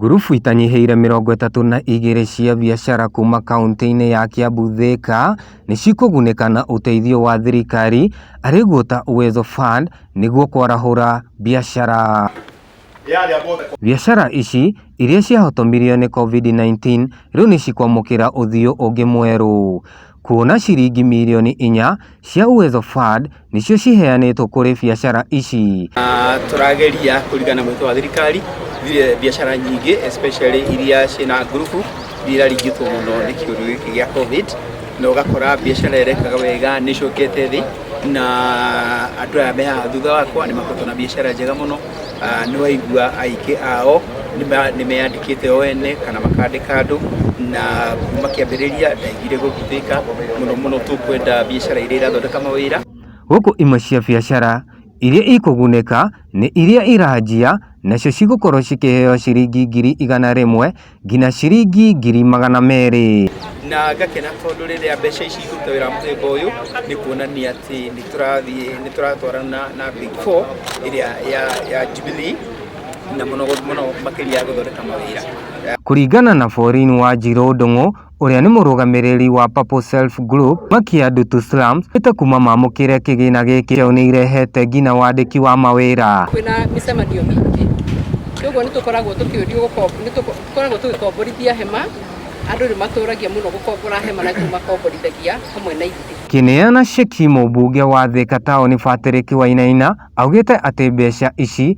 Ngurubu itanyihĩire mĩrongo ĩtatũ na igĩrĩ cia biacara kuma kaunti-inĩ ya Kiambu Thika nĩ cikũgunĩka na ũteithio wa thirikari arĩ guo ta Uwezo Fund nĩguo kwarahũra biacara. Biacara ici iria ciahotomirio nĩ Covid-19 rĩu nĩ cikwamũkĩra ũthiũ ũngĩ mwerũ. kuona ciringi mirioni inya cia Uwezo Fund nĩcio ciheanĩtwo kũrĩ biacara ici. Na tũrageria kũringana na mwĩto wa thirikari bi- biacara nyingĩ especially iria ciĩna ngurubu iria iraringĩtwo mũno nĩ kĩũndũ gĩkĩ gĩa covid na ũgakora biacara ĩrekaga wega nĩ ĩcokete thĩ na andũ aya me haha thutha wakwa nĩ makoretwo na biacara njega mũno ah, nĩ waigua aingĩ ao nĩma- nĩmeyandĩkĩte o ene kana makandĩka andũ na kuma kĩambĩrĩria ndaigire gũgithĩka mũno mũno tũkwenda biacara iria irathondeka mawĩra Gũkũ imwe cia biacara iria ikũgunĩka nĩ iria iranjia nacio cigũkorwo cikĩheo ciringi ngiri igana rĩmwe nginya ciringi ngiri magana merĩ. Na ngakena tondũ rĩrĩa mbeca ici ikũruta wĩra mũthemba ũyũ nĩ kuonania atĩ nĩ tũrathiĩ nĩ tũratwarana na big four ĩrĩa ya, ya Jubilee na mũno mũno makĩria gũthondeka mawĩra. Kũringana na Pauline Wanjirũ Ndung'u, ũrĩa nĩ mũrũgamĩrĩri wa Purple Self Group makia Ndutu Slums ĩte kuma mamũkĩre kĩgĩna gĩkĩ kĩao nĩ irehete ngina wandĩki wa mawĩra. Kwĩna mĩcemanio mĩingĩ kwoguo nĩ tũkoragwo tũkĩũrio nĩ tũkoragwo tũgĩkomborithia hema andũ nĩ matũragia mũno gũkombora hema na tũmakomborithagia hamwe na ithuĩ. Kĩneana ceki mũmbunge wa Thika taũni Patrick Wainaina augĩte atĩ mbeca ici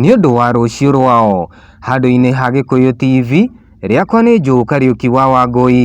Nĩ ũndũ wa rũciũ rwao. Handũ-inĩ ha Gĩkũyũ TV, rĩakwa nĩ Joe Kariuki wa Wangũi.